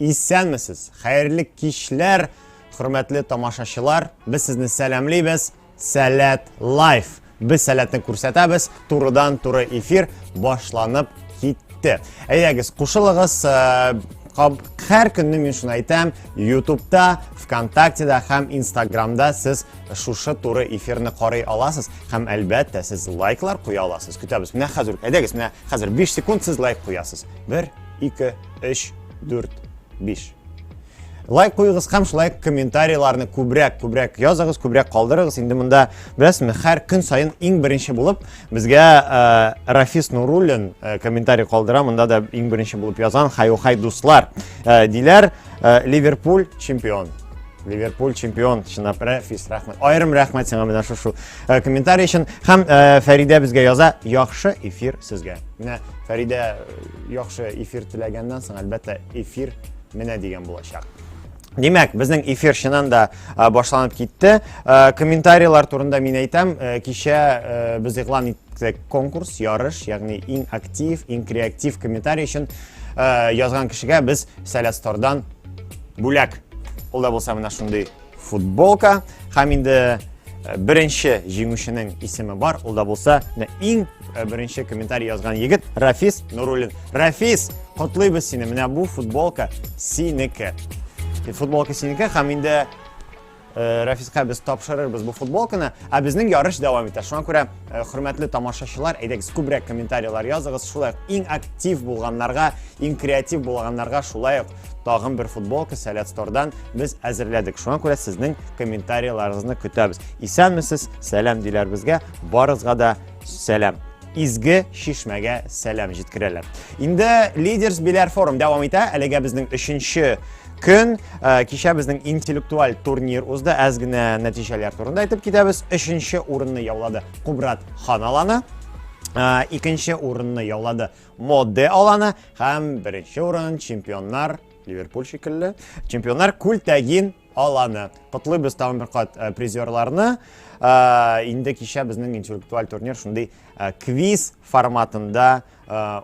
Исәнмесез! Хәерле кичләр, хөрмәтле тамашачылар! Без сезне сәламлибез. Сәләт лайф. Без сәләтне күрсәтәбез. Турыдан туры эфир башланып китте. Әйдәгез, кушылыгыз. Һәр көнне мин шуны әйтәм, ютубта, вконтактеда һәм инстаграмда сез шушы туры эфирны карый аласыз һәм әлбәттә сез лайклар куя аласыз. Көтәбез. Менә хәзер, әйдәгез, менә хәзер 5 секунд сез лайк куясыз. 1 2 3, 4, 5. Лайк куйыгыз һәм шулай комментарийларны күбрәк, күбрәк языгыз, күбрәк калдырыгыз. Инде монда, беләсезме, һәр көн саен иң беренче булып безгә э, Рафис Нуруллин э, комментарий калдыра. Монда да иң беренче булып язан хай-хай дуслар. Э, диләр, э, Ливерпуль чемпион. Ливерпуль чемпион, чынлап Рафис, рәхмәт. Айрым рәхмәт сиңа менә шушы э, комментарий өчен. Һәм э, Фәридә безгә яза, яхшы эфир сезгә. Менә Фәридә э, Яхшы эфир теләгәннән соң, әлбәттә, эфир менә дигән булачак. Димәк, безнең эфир чыннан да башланып китте. Комментарийлар турында мин әйтәм, кичә без игълан иттек конкурс, ярыш, ягъни иң актив, иң креатив комментарий өчен язган кешегә без Сәләстордан бүләк. Ул да булса менә шундый футболка һәм инде беренче җиңүченең исеме бар ул да булса менә иң беренче комментарий язган егет рафис нуруллин рафис котлыйбыз сине менә бу футболка синеке футболка синеке һәм инде Э, Рәфискә без тапшырырбыз бу футболканы, ә безнең ярыш дәвам итә. Шуңа күрә э, хөрмәтле тамашачылар, әйдәгез күбрәк комментарийлар языгыз. Шулай актив булганнарга, иң креатив булганнарга шулай ук тагын бер футболка Сәләт Стордан без әзерләдек. Шуңа күрә сезнең комментарийларыгызны көтәбез. Исәнмесез, сәлам диләр безгә. Барызга да сәлам. Изге шишмәгә сәлам җиткерәләр. Инде лидерс биләр форум дәвам итә. Әлегә безнең өченче көн э, кичә безнең интеллектуаль турнир узды. Әз генә нәтиҗәләр турында әйтеп китәбез. Өченче урынны яулады Кубрат Ханаланы. Э, икенче урынны яулады Моде аланы һәм беренче урын чемпионнар Ливерпуль шикелле. Чемпионнар күлтәгин аланы. Котлыйбыз тагын бер кат э, призерларны. Э, инде кичә безнең интеллектуаль турнир шундый э, квиз форматында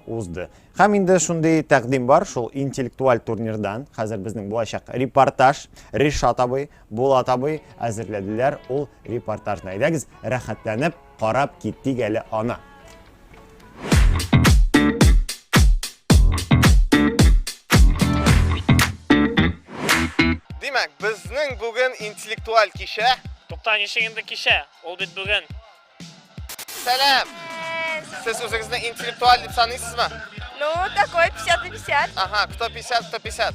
узды. Һәм инде шундый тәкъдим бар шул интеллектуаль турнирдан. Хәзер безнең булачак репортаж Ришат абый, Булат абый әзерләделәр ул репортажны. Әйдәгез, рәхәтләнеп Карап китик әле аны. Димәк, безнең бүген интеллектуаль кичә. Тукта, ничек инде кичә? Ул бит бүген. Сәлам! Сез үзегезне интеллектуаль дип саныйсызмы? Ну, такой 50 на 50. Ага, кто 50, кто 50.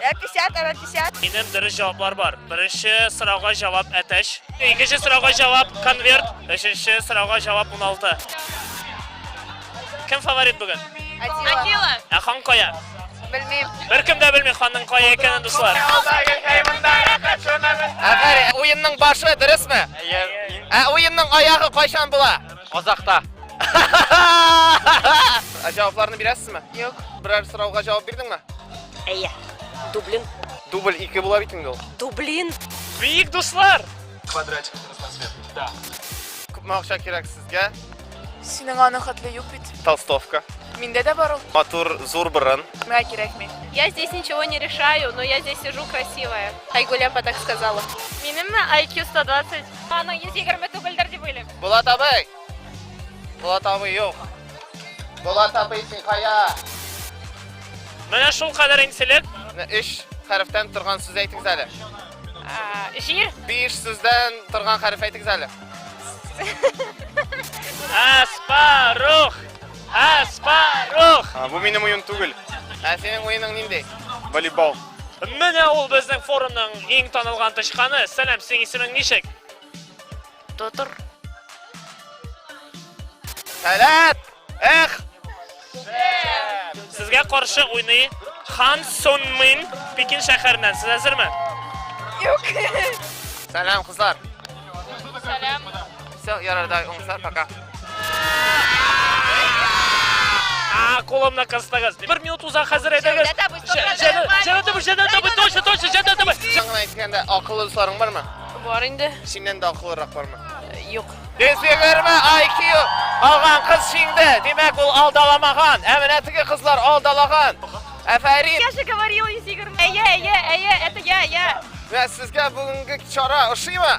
50 ара 50. Минем дөрес җаваплар бар. Беренче сорауга җавап әтәч. Икенче сорауга җавап конверт. Өченче сорауга җавап 16. Кем фаворит бүген? Атила. Ә хан кая? Белмим. Беркем дә белми ханның кая икәнен, дуслар. Әгәр уенның башы дөресме? Ә уенның аягы кайчан була? Казахта. Җавапларны бирәсезме? Юк. Берәр сорауга җавап бирдеңме? Әйе. Дублин. Дубль 2 була бит инде ул. Дублин. Бик дуслар. Квадратик трансфер. Да. Күпме акча кирәк сезгә? Синең аны хәтле юк бит. Толстовка. Миндә дә бар ул. Матур зур борын. Миңа кирәкми. Я здесь ничего не решаю, но я здесь сижу красивая. Айгуля так сказала. Минемме IQ 120. Аның 120 түгелдер дип уйлыйм. Булат абый! Булат абый юк. Булат абый син кая? Менә шул кадәр инселек. Менә өч хәрефтән торган сүз әйтегез әле. Җир. Биш сүздән торган хәреф әйтегез әле. Аспарух! Аспарух! Бу минем уен түгел. Ә синең уеның нинди? Волейбол. Менә ул безнең форумның иң танылган тычканы. Сәлам, синең исемең ничек? Тотыр. Сәлам! Эх! Сезгә каршы уйный Хан Сон Мин Пекин шәһәреннән. Сез әзерме? Юк. Сәлам, кызлар. Сәлам. Все, ярардай, уңса, пока. Коломна кыстагыз. Бер минут уза хәзер әйдәгез. Җәнәт табы, җәнәт табы, точно, точно, җәнәт табы. Сиңа әйткәндә акыллы дусларың бармы? Бар инде. Синнән дә акыллырак бармы? Юк. Дезгегерме IQ алган кыз җиңде. Димәк, ул алдаламаган. Ә менә теге кызлар алдалаган. Афәрин. Я же говорил, Изигер. Әйе, әйе, әйе, это я, я. Вә сезгә бүгенге чара ошыймы?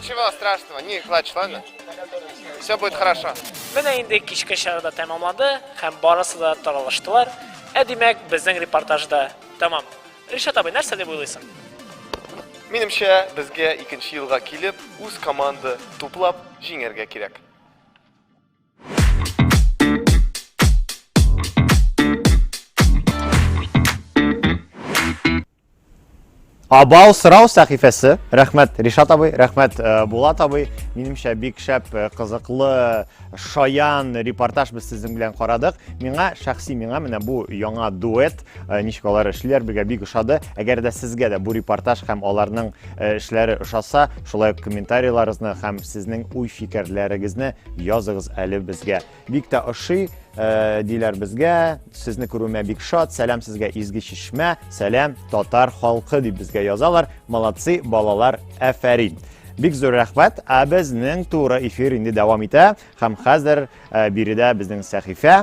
Чего страшного? Не плачь, ладно? Все будет хорошо. Менә инде кичке чарада тәмамланды һәм барысы да таралыштылар. Ә димәк, безнең репортаж да тәмам. Ришат абый, нәрсә дип уйлыйсың? Минемчә, безгә икенче елга килеп, үз команда туплап җиңәргә кирәк. Абау сырау сәхифәсе. Рәхмәт Ришат абый, рәхмәт э, Булат абый. Минемчә бик шәп, э, кызыклы, шаян репортаж без сезнең белән карадык. Миңа шәхси миңа менә бу яңа дуэт Э, ничек алар эшлиләр безгә бик ошады әгәр дә сезгә дә бу репортаж һәм аларның э, эшләре ошаса шулай ук комментарийларыгызны һәм сезнең уй фикерләрегезне языгыз әле безгә бик тә ошый э, диләр безгә сезне күрүемә бик шат сәлам сезгә изге чишмә сәлам татар халкы дип безгә язалар молодцы балалар әфәрин Бик зур рәхмәт. Ә безнең туры эфир инде дәвам итә. Һәм хәзер биредә безнең сәхифә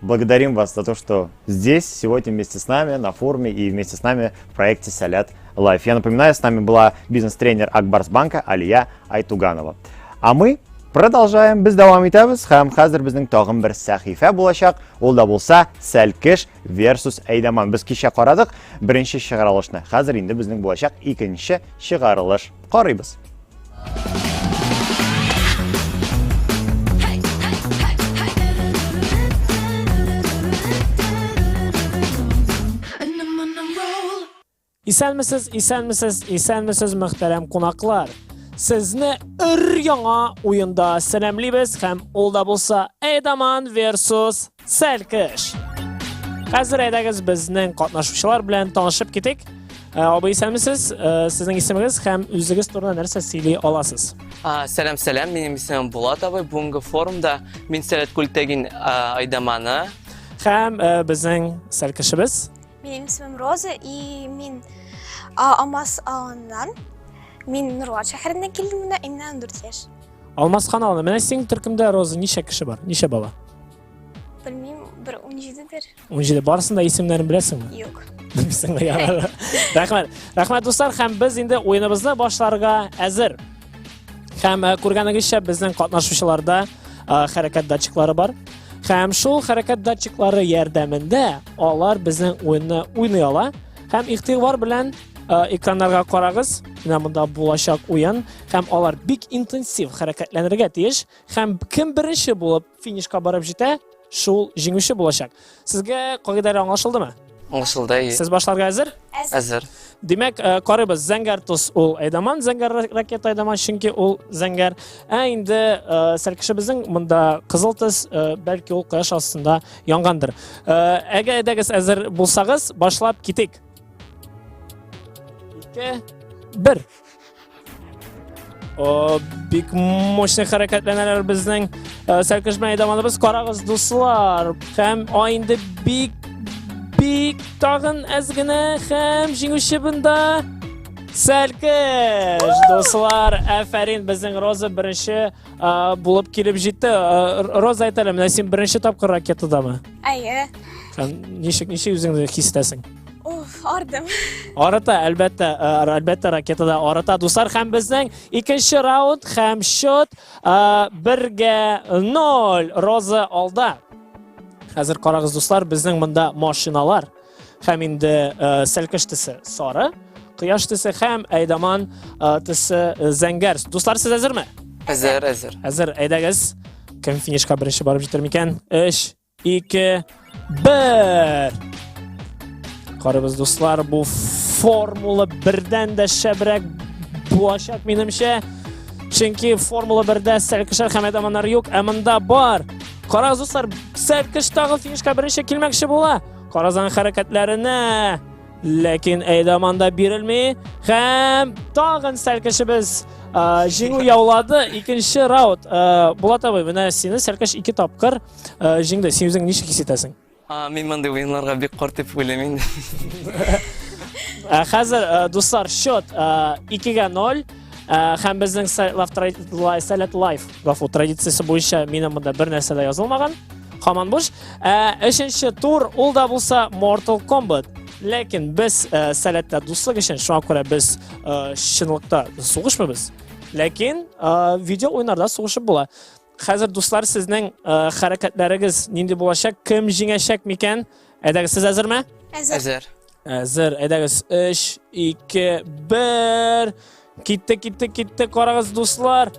Благодарим вас за то, что здесь сегодня вместе с нами на форуме и вместе с нами в проекте «Салят Лайф». Я напоминаю, с нами была бизнес-тренер Акбарсбанка Алия Айтуганова. А мы продолжаем. Без давам итәбез һәм хәзер безнең тагын бер сәхифә булачак. Ул да булса Сәлкеш versus Әйдаман. Без кичә карадык беренче чыгарылышны. Хәзер инде безнең булачак икенче чыгарылыш. Карыйбыз. Исәнмесез, исәнмесез, исәнмесез, мөхтәрәм кунаклар. Сезне өр яңа уенда сәламлибез һәм ул да булса Эдаман versus Сәлкеш! Хәзер әйдәгез безнең катнашучылар белән танышып китик. Э, абый исәнмесез э, сезнең исемегез һәм үзегез турында нәрсә сөйли аласыз сәлам сәлам минем исемем булат абый бүгінгі форумда мин сәләт күлтәгин айдаманы һәм э, безнең сәл кешебез минем исемем роза и мин амас ауылынан мин нурлат шәһәреннән килдем мына имнән дүрт яшь Алмаз каналы. Менә синең төркемдә Роза ничә кеше бар? Ничә бала? Белмим, бер 17 дер. 17. Барысын да исемнәрен беләсеңме? Юк. Белмисең дә ярар. Рәхмәт. Рәхмәт дуслар, һәм без инде уеныбызны башларга әзер. Һәм э, күргәнегезчә безнең катнашучыларда э, хәрәкәт датчиклары бар. Һәм шул хәрәкәт датчиклары ярдәмендә алар безнең уенны уйный ала һәм игътибар белән Э, экраннарга карагыз менә монда булачак уен һәм алар бик интенсив хәрәкәтләнергә тиеш һәм кем беренче булып финишка барып җитә шул җиңүче булачак сезгә кагыйдәләр аңлашылдымы аңлашылды сез башларга әзер әзер димәк э, карыйбыз зәңгәр тоз ул айдаман зәңгәр ракета айдаман чөнки ул зәңгәр ә инде э, сәркешебезнең монда кызыл төс бәлки ул кояш астында янгандыр әгәр әйдәгез әзер булсагыз башлап китик Ике. Бер. О, бик мощный хәрәкәтләнәләр безнең э, сәркешмә әйдамалыбыз. Карагыз, дуслар. Һәм айынды бик бик тагын әз генә һәм җиңүче бында Сәлкеш! Дуслар, әфәрин, безнең Роза беренче булып килеп җитте. Роза әйтәле, менә син беренче тапкыр ракетадамы? Әйе. Һәм ничек ничек үзеңне хис итәсең? Уф, ардым. Арыта, әлбәттә, э, әлбәттә ракетада арыта. Дуслар, һәм безнең икенче раунд һәм счет э, бергә ноль. Роза алда. Хәзер карагыз, дуслар, безнең монда машиналар. Хәм инде сәлкеш төсе сары, кояш төсе хәм әйдаман төсе зәңгәр. Дуслар, сез әзерме? Әзер, әзер. Әзер, әйдәгез. Кем финишка беренче барып җитер микән? 3, 2, 1. Карыбыз, дуслар, бу формула бердән дә шәбрәк булачак, минемчә. Чөнки формула бердә сәлкешәр һәм әдаманнар юк, ә монда бар. Карагыз, дуслар, сәлкеш тагы финишка беренче килмәкче була. Каразан хәрәкәтләренә ләкин әйдаман да бирелми һәм тагын сәлкешебез җиңү яулады икенче раунд булат абый менә сине сәлкеш ике тапкыр җиңде син үзең ничек хис итәсең мин мондый уеннарга бик карт дип уйлыйм инде хәзер дуслар счет икегә ноль Э, һәм безнең сәләт лайф гафу традициясе буенча минем монда бер нәрсә дә язылмаган һаман буш э, өченче тур ул да булса mortal kombat ләкин без э, сәләттә дуслык өчен шуңа күрә без чынлыкта сугышмыйбыз ләкин видео уйнарда сугышып була хәзер дуслар сезнең хәрәкәтләрегез нинди булачак кем җиңәчәк микән әйдәгез сез әзерме әзер Әзер, әйдәгез, 3, 2, 1. Китте, китте, китте, карагыз, дуслар.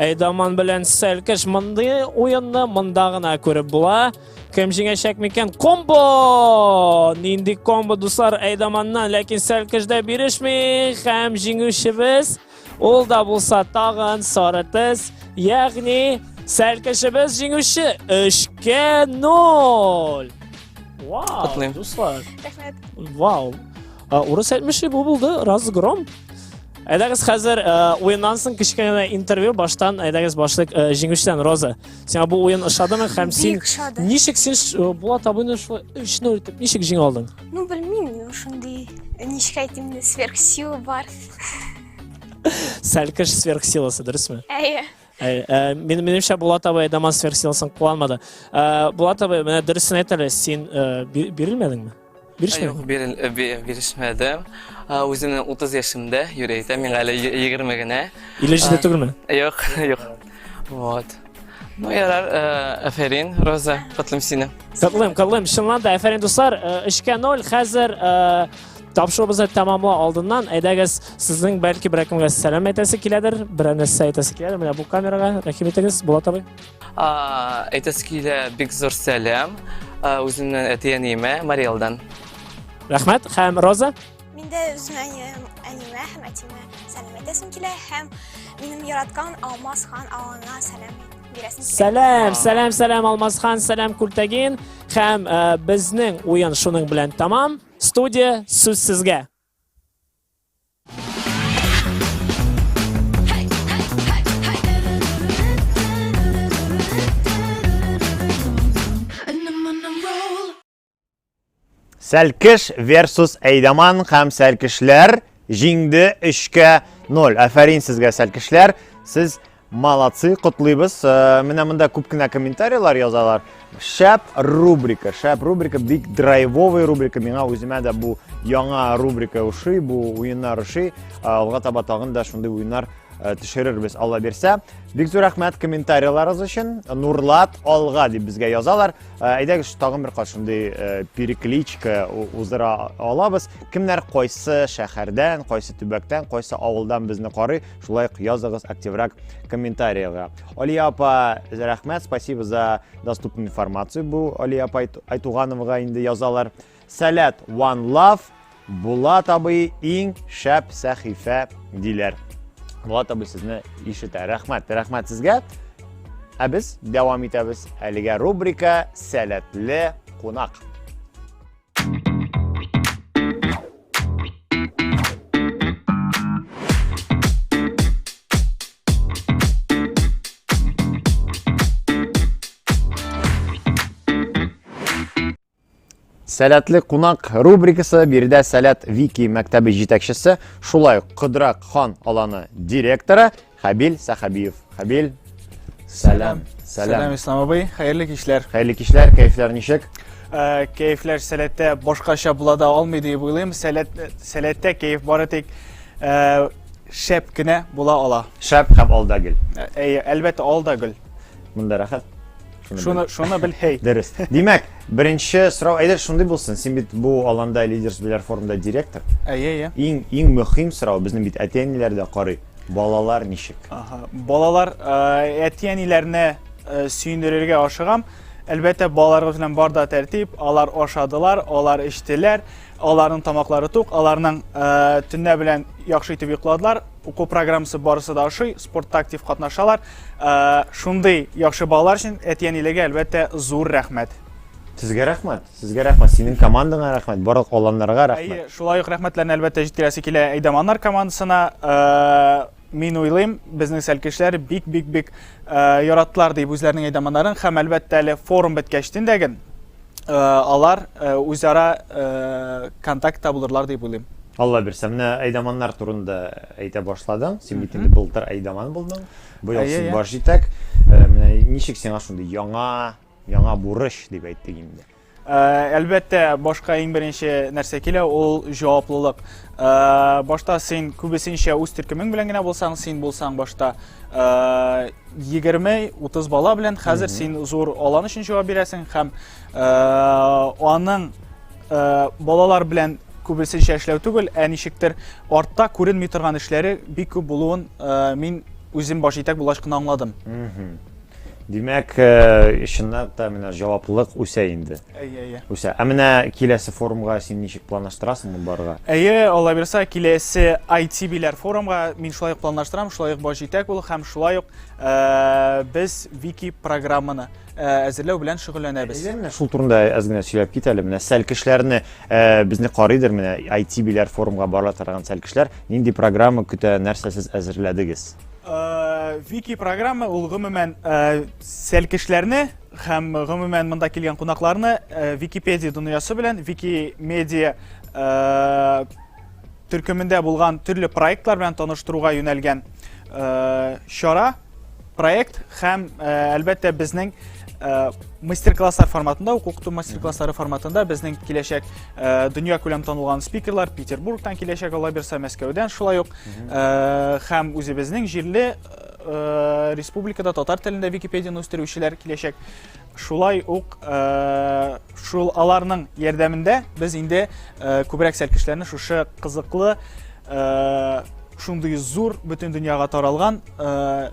Әйдаман белән сәлкеш мындай уенны мында гына күреп була. Кем җиңәчәк микән? Комбо! Нинди комбо, дуслар, Әйдаманнан, ләкин сәлкеш дә бирешми. Һәм җиңүчебез Ул да булса тагын сары тез, ягъни сәл кешебез җиңүче 3-0. Вау, Котлыйм. дуслар. Рәхмәт. Вау. А, Урыс әйтмеше бу булды, разгром. Әйдәгез хәзер э, уеннан соң кечкенә интервью баштан әйдәгез башлык э, җиңүчедән Роза. Сиңа бу уен ошадымы һәм син Бик шады. ничек син ш- э, Булат абыйны шулай 3-0 итеп ничек җиңә алдың? Ну, белмим, ну, шундый, ничек әйтим, сверхсила бар. Сәлкеш сверхсиласы, дөресме? Әйе. Әй, ә, мен, менемчә Булат абай дама сверхсиласын куанмады. Ә, Булат абай, менә дөресен әйт әле, син ә, би- бирелмәдеңме? Бирешмәдең? Юк, бирел- э, би- бирешмәдем. А, Үземнең 30 яшемдә йөрәйтә, миңа әле е- егерме генә. Или җиде түгелме? Юк, юк. Вот. Ну ярар, э, афәрин, Роза, котлыйм сине. Котлыйм, котлыйм, чынлан да, афәрин дуслар, э, өчкә ноль, хәзер э, тапшыруыбызны тәмамла алдыннан, әйдәгез, сезнең бәлки берәкемгә сәлам әйтәсе киләдер, берәр нәрсә әйтәсе киләдер, менә бу камерага, рәхим итегез, Булат абый. Әйтәсе килә, бик зур сәлам, үземнән әти-әниемә, Мариэлдан. Рәхмәт, һәм Роза? Миндә үземә әниемә һәм әтимә сәлам әйтәсем килә һәм минем яраткан Алмаз хан агаңа сәлам бирәсем килә. Сәлам, сәлам, сәлам Алмаз хан, сәлам Күлтәген һәм э, безнең уен шуның белән тамам. Студия сүз сезгә. Сәлкеш versus Әйдаман һәм Сәлкешләр җиңде 3-кә 0. Афәрин сезгә Сәлкешләр. Сез молодцы, котлыйбыз. Э, менә монда күп кенә комментарийлар язалар. Шәп рубрика, шәп рубрика, бик драйвовый рубрика. Миңа үземә дә бу яңа рубрика ошый, бу уеннар ошый. Э, алга таба тагын да шундый уеннар э, төшерербез алла бирсә бик зур рәхмәт комментарийларыгыз өчен нурлат алга дип безгә язалар Ә, әйдәгез тагын бер кат шундый ә, перекличка у- уздыра алабыз. Кемнәр кайсы шәһәрдән, кайсы төбәктән, кайсы авылдан безне карый, шулай ук языгыз активрак комментариягә. Алия апа, рәхмәт, спасибо за доступную информацию. Бу Алия апа Айт- Айтугановага инде язалар. Сәләт One Love, Булат абый иң шәп сәхифә диләр. Булат абый сезне ишетә. Рәхмәт, рәхмәт сезгә. Ә без дәвам итәбез. Әлегә рубрика Сәләтле кунак. Сәләтле кунак рубрикасы биредә Сәләт Вики мәктәбе җитәкчесе, шулай ук Кыдрак хан аланы директоры Хәбил Сәхәбиев. Хәбил, сәлам. Сәлам, Ислам абый. Хәерле кичләр. Хәерле кичләр, кәефләр ничек? Э, кәефләр сәләттә башкача була да алмый дип уйлыйм. Сәләт, сәләттә кәеф бары тик э, шәп кенә була ала. Шәп һәм алда гел. Э, әйе, әлбәттә, алда гөл. Монда рәхәт. Шуны шуны бел һей. Дөрес. Димәк, беренче сорау әйдә шундый булсын. Син бит бу аланда лидерс биләр форумда директор. Әйе, әйе. Иң иң мөһим сорау безнең бит әти-әниләр дә карый. Балалар ничек? Ага. Балалар э, әти-әниләрне э, сөендерергә ашыгам. Әлбәттә, балаларыбыз белән бар да тәртип, алар ашадылар, алар эчтеләр, аларның тамаклары тук, аларның э, төнлә белән яхшы итеп йокладылар, уку программасы барысы да ашый, спортта актив катнашалар. Ә, шундый яхшы балалар өчен әти-әниләргә әлбәттә зур рәхмәт. Сезгә рәхмәт, сезгә рәхмәт, синең командаңа рәхмәт, барлык аланнарга рәхмәт. Әйе, шулай ук рәхмәтләрне әлбәттә җиткерәсе килә Әйдаманнар командасына. Ә, мин уйлыйм, безнең сәлкешләр бик-бик-бик яраттылар дип үзләренең әйдаманнарын һәм әлбәттә әле форум беткәч тендәген алар үзара контакт табылырлар дип уйлыйм. Алла бирсә, менә әйдаманнар турында әйтә башладың. Син бит инде былтыр әйдаман булдың. Быел син баш җитәк. Менә ничек сиңа шундый яңа, яңа бурыч дип әйтик инде. Әлбәттә, башка иң беренче нәрсә килә, ул җаваплылык. Э, башта син күбесенчә үз төркемең белән генә булсаң син булсаң башта э, егерме утыз бала белән хәзер син зур алан өчен җавап бирәсең һәм э, аның балалар белән күбесенчә эшләү түгел ә ничектер артта күренми торган эшләре бик күп булуын мин үзем баш итәк булгач кына аңладым Димәк, чыннан да менә җаваплылык үсә инде. Әйе, әйе. Үсә. Ә менә киләсе форумга син ничек планлаштырасың моны барырга? Әйе, алла бирса, киләсе ITB-ләр форумга мин шулай ук планлаштырам, шулай ук баш җитәк булу һәм шулай ук без вики программаны әзерләү белән шөгыльләнәбез. Әйе, менә шул турында әз генә сөйләп кит әле. Менә сәл кешеләрне безне карыйдыр, менә ITB-ләр форумга бара торган сәл кешеләр, нинди программа көтә, нәрсә сез әзерләдегез? Э, Вики программа ул гомумән э, сәлкешләрне һәм гомумән монда килгән кунакларны э, Википедия дөньясы белән Викимедиа төркемендә булган төрле проектлар белән таныштыруга юнәлгән чара, проект һәм әлбәттә безнең мастер-класслар форматында, укыту мастер-класслары форматында безнең киләчәк Э, дөнья күләм танылган спикерлар Петербургтан киләчәк ала бирсә Мәскәүдән шулай ук э, һәм үзебезнең җирле э, республикада татар телендә Википедияны үстерүчеләр киләчәк. Шулай ук шул аларның ярдәмендә без инде күбрәк сәлкешләрне шушы кызыклы шундый зур бөтен дөньяга таралган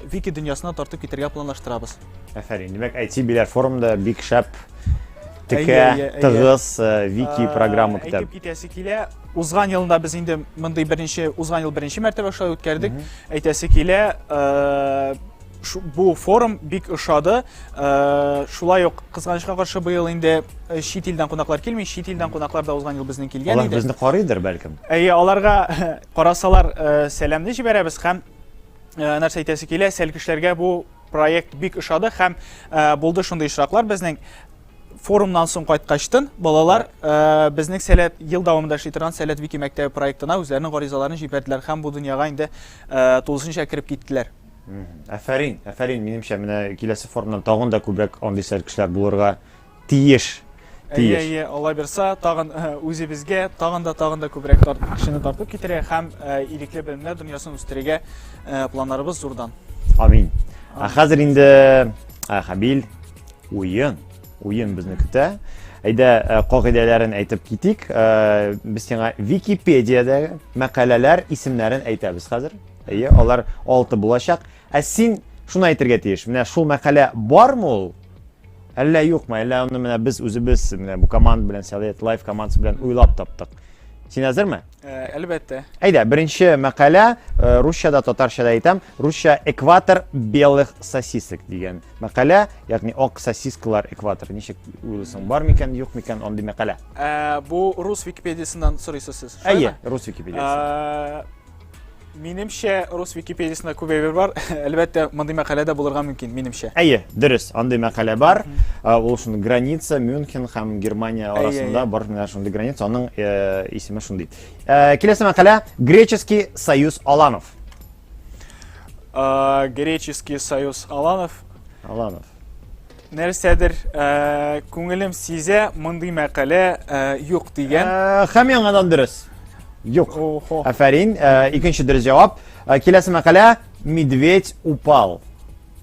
вики дөньясына тартып китергә планлаштырабыз. Афәрин. Димәк, IT биләр форумда бик шәп текә, тыгыз э, вики программа китә. Әйтеп китәсе килә, узган елында без инде мондый беренче, узган ел беренче мәртәбә шулай үткәрдек. Әйтәсе килә, э, бу форум бик ошады. Э, шулай ук кызганычка каршы быел инде чит илдән кунаклар килми, чит илдән кунаклар да узган ел безнең килгән иде. Алар безне карыйдыр бәлкем. Әйе, аларга карасалар сәламне җибәрәбез һәм нәрсә әйтәсе килә, сәлкешләргә бу Проект бик ошады һәм э, булды шундый очраклар безнең форумнан соң кайткачтын балалар э, безнең сәләт ел дәвамында эшли торган сәләт вики мәктәбе проектына үзләренең гаризаларын җибәрделәр һәм бу дөньяга инде э, тулысынча кереп киттеләр. Әфәрин, әфәрин, минемчә, менә киләсе форумнан тагын да күбрәк андый сәләт кешеләр булырга Тиеш. Әйе, әйе, алла бирса, тагын э, үзебезгә тагын да тагын да күбрәк тарт, кешене тартып китерә һәм э, ирекле белемнәр дөньясын үстерергә э, планнарыбыз зурдан. Амин. Ә хәзер инде Хабил уен, уен безне көтә. Әйдә, кагыйдәләрен әйтеп китик. Без сиңа Википедиядәге мәкаләләр исемнәрен әйтәбез хәзер. Әйе, алар 6 булачак. Ә син шуны әйтергә тиеш, менә шул мәкалә бармы ул? Әллә юкмы? Әллә аны менә без үзебез менә бу команда белән Совет Лайф командасы белән уйлап таптык. Син әзерме? Э, әлбәттә. Әйдә, беренче мәкалә э, русчада, татарчада әйтәм, русча экватор белых сосисок дигән мәкалә, ягъни ак сосискалар экватор. Ничек уйлыйсың, бар микән, юк микән андый мәкалә? Э, бу рус Википедиясеннән сорыйсыз сез. Әйе, рус Википедиясеннән. Минемчә, рус Википедиясендә күп әйбер бар. Әлбәттә, мондый мәкалә дә булырга мөмкин, минемчә. Әйе, дөрес, андый мәкалә бар. Ә, Ул шул граница Мюнхен һәм Германия Әйе, арасында әйе. бар менә шундый граница, аның э, исеме шундый. Э, Киләсе мәкалә Греческий союз Аланов. А, Греческий союз Аланов. Аланов. Нәрсәдер күңелем сизә, мондый мәкалә юк дигән. Хәм яңадан дөрес. Юк. Афәрин, икенче дөрес җавап. Киләсе мәкалә Медведь упал.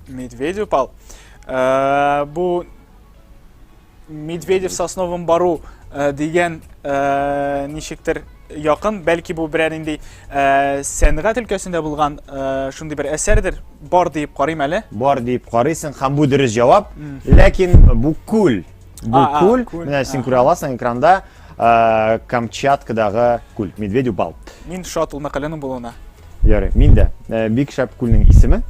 Медведь упал. Бу Медведев сосновым бару дигән ничектер якын, бәлки бу берәр инде э, сәнгать өлкәсендә булган э, шундый бер әсәрдер, бар диеп карыйм әле. Бар диеп карыйсың һәм бу дөрес җавап. Ләкин бу күл. Бу а, күл, күл. Менә син күрә аласың экранда э, Камчаткадагы күл, Медведю бал. Мин шат ул мәкаләнең булуына. Ярый, мин дә. Э, бик шәп күлнең исеме.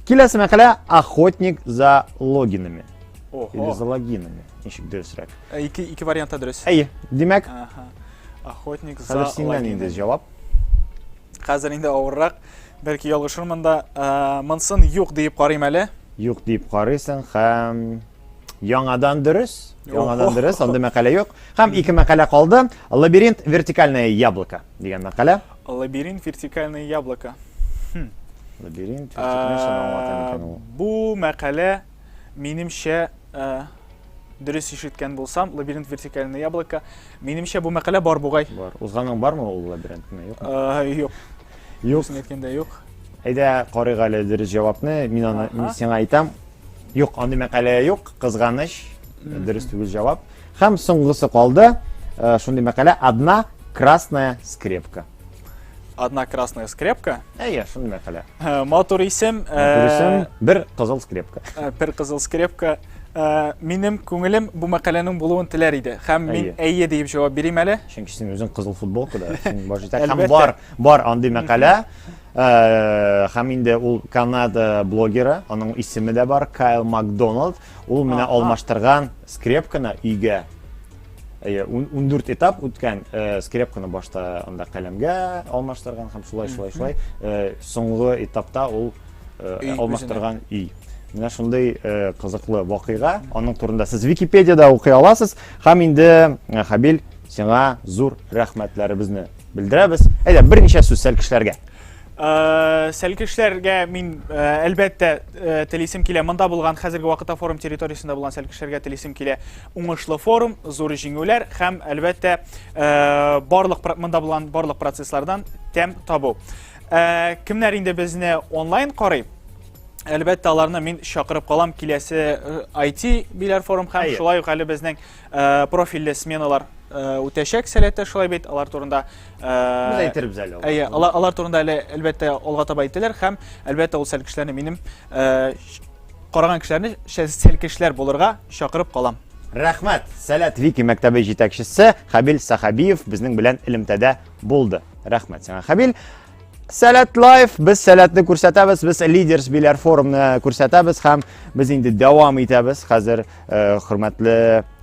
Киләсе мәкалә Охотник за логинами. Или за логинами. Ничек дөресрәк? Ике, ике вариантта дөрес. Әйе, димәк. Ага. Охотник за Хәзер синнән инде җавап. Хәзер инде авыррак. Бәлки ялгышырмын да. Ә, Монсын юк диеп карыйм әле. Юк дип карыйсың һәм яңадан дөрес. Яңадан дөрес, андый мәкалә юк. Һәм ике мәкалә калды. Лабиринт вертикальное яблоко дигән мәкалә. Лабиринт вертикальное яблоко. Лабиринт вертикальное яблоко. Бу мәкалә Минемчә, э, дөрес ишеткән булсам, лабиринт вертикальное яблоко. Минемчә бу мәкалә бар бугай. Бар. Узганың бармы ул лабиринтны? Юк. Э, юк. Юк. Үзен әйткәндә юк. Әйдә карыйк әле дөрес җавапны. Мин аны мин сиңа әйтәм. Юк, андый мәкалә юк. Кызганыч. Дөрес түгел җавап. Һәм соңгысы калды. Э, шундый мәкалә одна красная скрепка. Одна красная скрепка. Ә, я, шуны мәкалә. Э, матур исем. Э, матур исем, бер кызыл скрепка. Э, бер кызыл скрепка. Минем күңелем бу мәкаләнең булуын теләр иде. Хәм мин әйе диеп җавап бирим әле. Чөнки син үзең кызыл футболкада, син баш итә. Хәм бар, бар андый мәкалә. Хәм инде ул Канада блогеры, аның исеме дә бар, Кайл Макдоналд. Ул менә алмаштырган скрепканы өйгә Әйе, ундүрт этап үткән э, скрепканы башта анда каләмгә алмаштырган һәм шулай шулай шулай э, соңгы этапта ул э, алмаштырган өй. Менә шундый кызыклы вакыйга, аның турында сез Википедияда укый аласыз. Һәм инде Хабил, сиңа зур рәхмәтләребезне белдерәбез. Әйдә, берничә сүз сәл кешеләргә. Э, сәлкешләргә мин э, әлбәттә э, телисем килә монда булган хәзерге вакытта форум территориясендә булган сәлкешләргә телисем килә уңышлы форум, зур җиңүләр һәм, әлбәттә, э, барлык монда булган барлык процесслардан тәм табу. Э, кемнәр инде безне онлайн карый? Әлбәттә, аларны мин чакырып калам киләсе IT э, биләр форум һәм шулай ук әле безнең профильле сменалар үтәчәк сәләттә шулай бит алар турында без әйтербез әле әйе алар турында әле әлбәттә алга таба әйтелер һәм әлбәттә ул сәлкешләрне минем караган кешеләрне селкешләр булырга чакырып калам. Рәхмәт! Сәләт Вики мәктәбе җитәкчесе Хабил Сахабиев безнең белән элемтәдә булды. Рәхмәт сиңа, Хабил. Сәләт лайф, без сәләтне күрсәтәбез, без лидерс биләр форумны күрсәтәбез һәм без инде дәвам итәбез. Хәзер э, хөрмәтле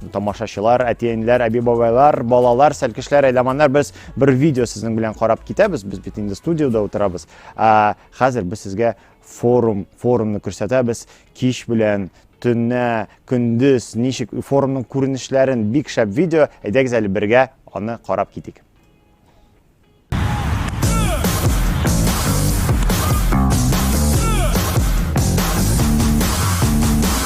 тамашачылар, әтиәниләр, әби-бабайлар, балалар, сәлкешләр, әйламаннар, без бер видео сезнең белән карап китәбез. Без бит инде студиода утырабыз. Ә, хәзер без сезгә Форум, форумны күрсәтәбез. Кич белән, төннә, көндез, ничек форумның күренешләрен, бик шәп видео. Әйдәгез әле бергә аны карап китик.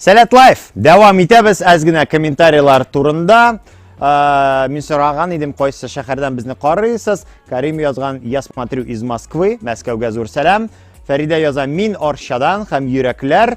Сәләт лайф! Дәвам итәбез әз генә комментарийлар турында. Ә, мин сораган идем, кайсы шәһәрдән безне карыйсыз. Карим язган, я смотрю из Москвы, Мәскәүгә зур сәлам. Фәридә яза, мин Арчадан һәм йөрәкләр.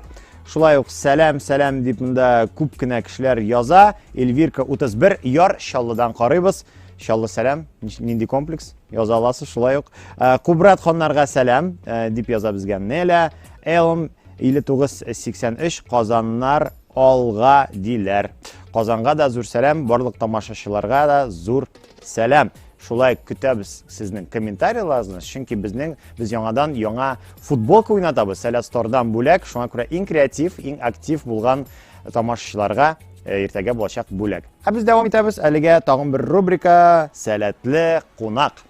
Шулай ук сәлам, сәлам дип монда күп кенә кешеләр яза. Эльвирка 31 яр Чаллыдан карыйбыз. Чаллы сәлам, нинди комплекс яза аласыз шулай ук. Ә, Кубрат ханнарга сәлам ә, дип яза безгә Неля. Элм 5983 Казаннар алга диләр. Казанга да зур сәлам, барлык тамашачыларга да зур сәлам. Шулай ук көтәбез сезнең комментарияларыгызны, чөнки безнең без яңадан яңа футболка уйнатабыз Сәләт Стордан бүләк. Шуңа күрә иң креатив, иң актив булган тамашачыларга э, иртәгә булачак бүләк. Ә без дәвам итәбез әлегә тагын бер рубрика Сәләтле кунак.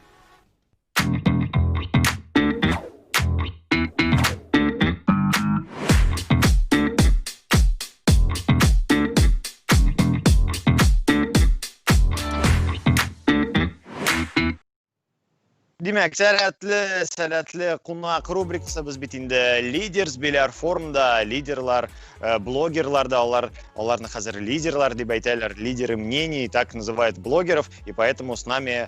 Димәк, сәләтле, сәләтле кунак рубрикасы без бит инде лидерс беләр форумда, лидерлар, э, блогерлар да алар, аларны хәзер лидерлар дип әйтәләр, лидеры мнений, так называют блогеров, и поэтому с нами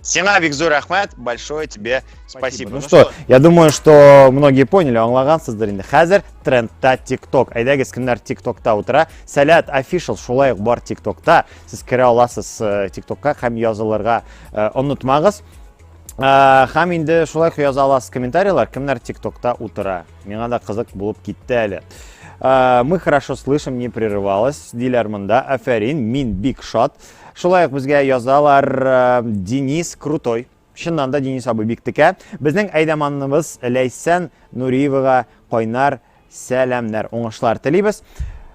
Сиңа, Викзур, рәхмәт, большое тебе спасибо. Ну, ну что, что, я думаю, что многие поняли, аңлагансыздыр инде. Хәзер трендта TikTok. Әйдәгез, кемнәр TikTokта утыра? Сәләт official шулай ук бар TikTokта. Сез керә аласыз э, TikTokка һәм язылырга э, онытмагыз. Э, һәм инде шулай ук яза аласыз комментарийлар, кемнәр TikTokта утыра. Миңа да кызык булып китте әле. Мы хорошо слышим, не прерывалось. Диләр монда. Афәрин, мин бик шат. Шулай ук безгә язалар э, Денис Крутой. Чыннан да Денис абый бик текә. Безнең әйдәманыбыз Ләйсән Нуриевага кайнар сәламнәр, уңышлар телибез.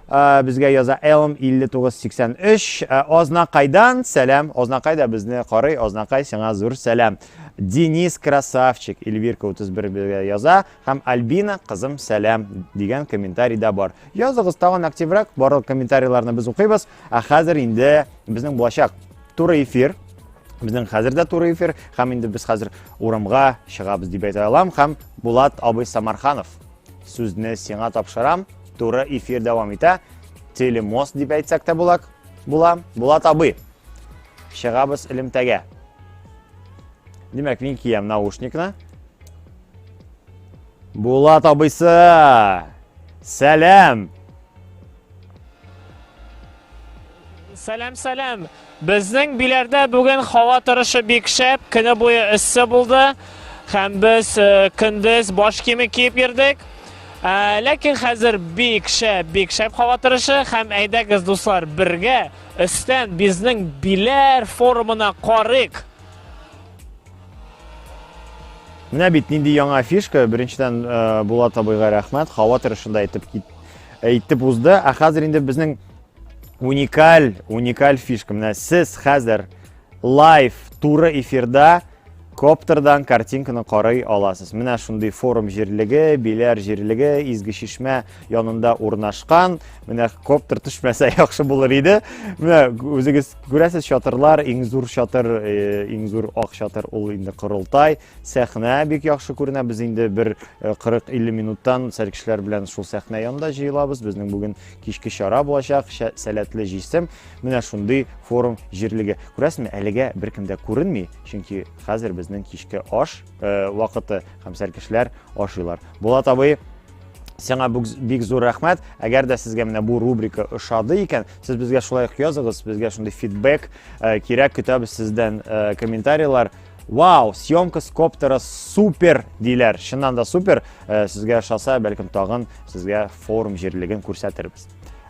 Э, безгә яза Элм 5983. Э, Азнакайдан сәлам. Азнакай да безне карый. Азнакай сиңа зур сәлам. Денис Красавчик, Эльвирка 31 безгә яза һәм Альбина кызым сәлам дигән комментарий да бар. Языгыз тагын активрак, барлык комментарийларны без укыйбыз. Ә хәзер инде безнең булачак туры эфир безнең хәзер дә туры эфир һәм инде без хәзер урамга чыгабыз дип әйтә алам һәм Булат абый Самарханов сүзне сиңа тапшырам туры эфир дәвам итә телемост дип әйтсәк тә була була Булат абый чыгабыз элемтәгә димәк мин киям наушникны Булат абыйсы сәлам Сәлам, сәлам. Безнең биләрдә бүген һава торышы бик шәп, көне буе эссе булды. Һәм без э, көндез баш киеме киеп йөрдек. Ә, ләкин хәзер бик шәп, бик шәп һава торышы һәм әйдәгез дуслар бергә өстән безнең биләр форумына карыйк. Менә бит нинди яңа фишка. Беренчедән э, Булат абыйга рәхмәт. Һава торышында әйтеп кит Әйтеп узды, ә хәзер инде безнең уникаль, уникаль фишка. Менә сез хәзер лайв туры эфирда коптердан картинканы карый аласыз. Менә шундый форум җирлеге, Биләр җирлеге, Изге Шишмә янында урнашкан. Менә коптер төшмәсә яхшы булыр иде. Менә үзегез күрәсез чатырлар, иң зур чатыр, э, иң зур ак чатыр ул инде Корылтай. Сәхнә бик яхшы күренә. Без инде бер 40-50 минуттан сәркешләр белән шул сәхнә янында җыелабыз. Безнең бүген кичке чара булачак, сәләтле җисем. Менә шундый форум җирлеге. Күрәсезме, әлегә беркем дә күренми, чөнки хәзер безнең кичке аш э, вакыты һәм сәркешләр ашыйлар. Булат абый, Сиңа бик зур рәхмәт. Әгәр дә сезгә менә бу рубрика ошады икән, сез безгә шулай ук языгыз, безгә шундый фидбэк э, кирәк, көтәбез сездән э, комментарийлар. Вау, съемка с коптера супер диләр. Чыннан да супер. Э, сезгә ошаса, бәлкем тагын сезгә форум җирлеген күрсәтербез.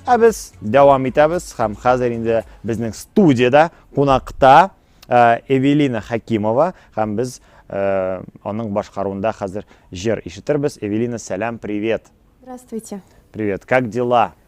Ә без дәвам итәбез һәм хәзер инде безнең студияда кунакта э, Эвелина Хакимова һәм без э, аның башкаруында хәзер җыр ишетербез. Эвелина, сәлам, привет. Здравствуйте. Привет. Как дела?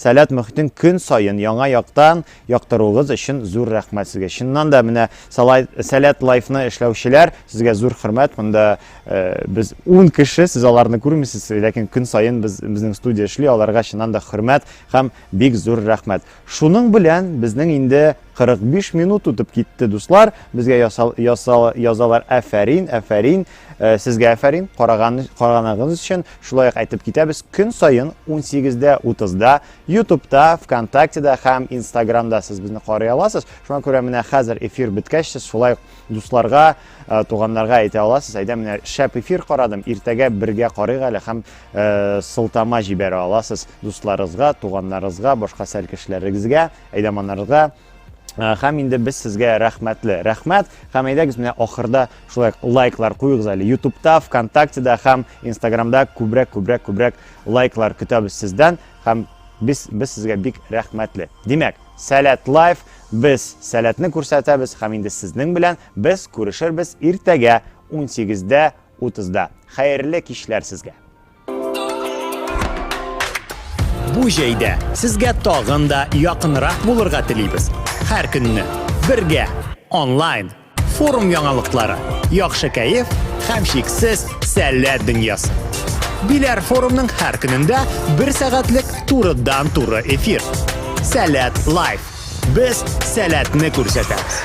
Сәләт мохитен көн саен яңа яктан яктыруыгыз өчен зур рәхмәт сезгә. Чыннан да менә Сәләт лайфны эшләүчеләр, сезгә зур хөрмәт. Монда э, без 10 кеше, сез аларны күрмисез, ләкин көн саен без безнең студия эшли, аларга чыннан да хөрмәт һәм бик зур рәхмәт. Шуның белән безнең инде 45 минут үтеп китте, дуслар. Безгә ясал, ясал, язалар әфәрин, әфәрин. Э, сезгә әфәрин караган караганыгыз өчен шулай ук әйтеп китәбез көн саен 18-дә 30-да ютубта вконтактеда һәм инстаграмда сез безне карый аласыз шуңа күрә менә хәзер эфир беткәч сез шулай ук дусларга э, туганнарга әйтә аласыз әйдә менә шәп эфир карадым иртәгә бергә карыйк әле һәм э, сылтама җибәрә аласыз дусларыгызга туганнарыгызга башка сәл кешеләрегезгә әйдәманнарыгызга Э, һәм инде без сезгә рәхмәтле рәхмәт һәм әйдәгез менә ахырда шулай лайклар куегыз әле ютубта вконтактеда һәм инстаграмда күбрәк күбрәк күбрәк лайклар көтәбез сездән һәм без без сезгә бик рәхмәтле димәк сәләт лайф без сәләтне күрсәтәбез һәм инде сезнең белән без күрешербез иртәгә 18 дә 30 да хәерле кичләр сезгә Бу җәйдә сезгә тагын да якынрак булырга телибез. Һәр көнне бергә онлайн форум яңалыклары, яхшы кәеф һәм шиксез сәләт дөньясы. Биләр форумның һәр көнендә бер сәгатьлек турыдан-туры эфир. Сәләт лайф. Без сәләтне күрсәтәбез.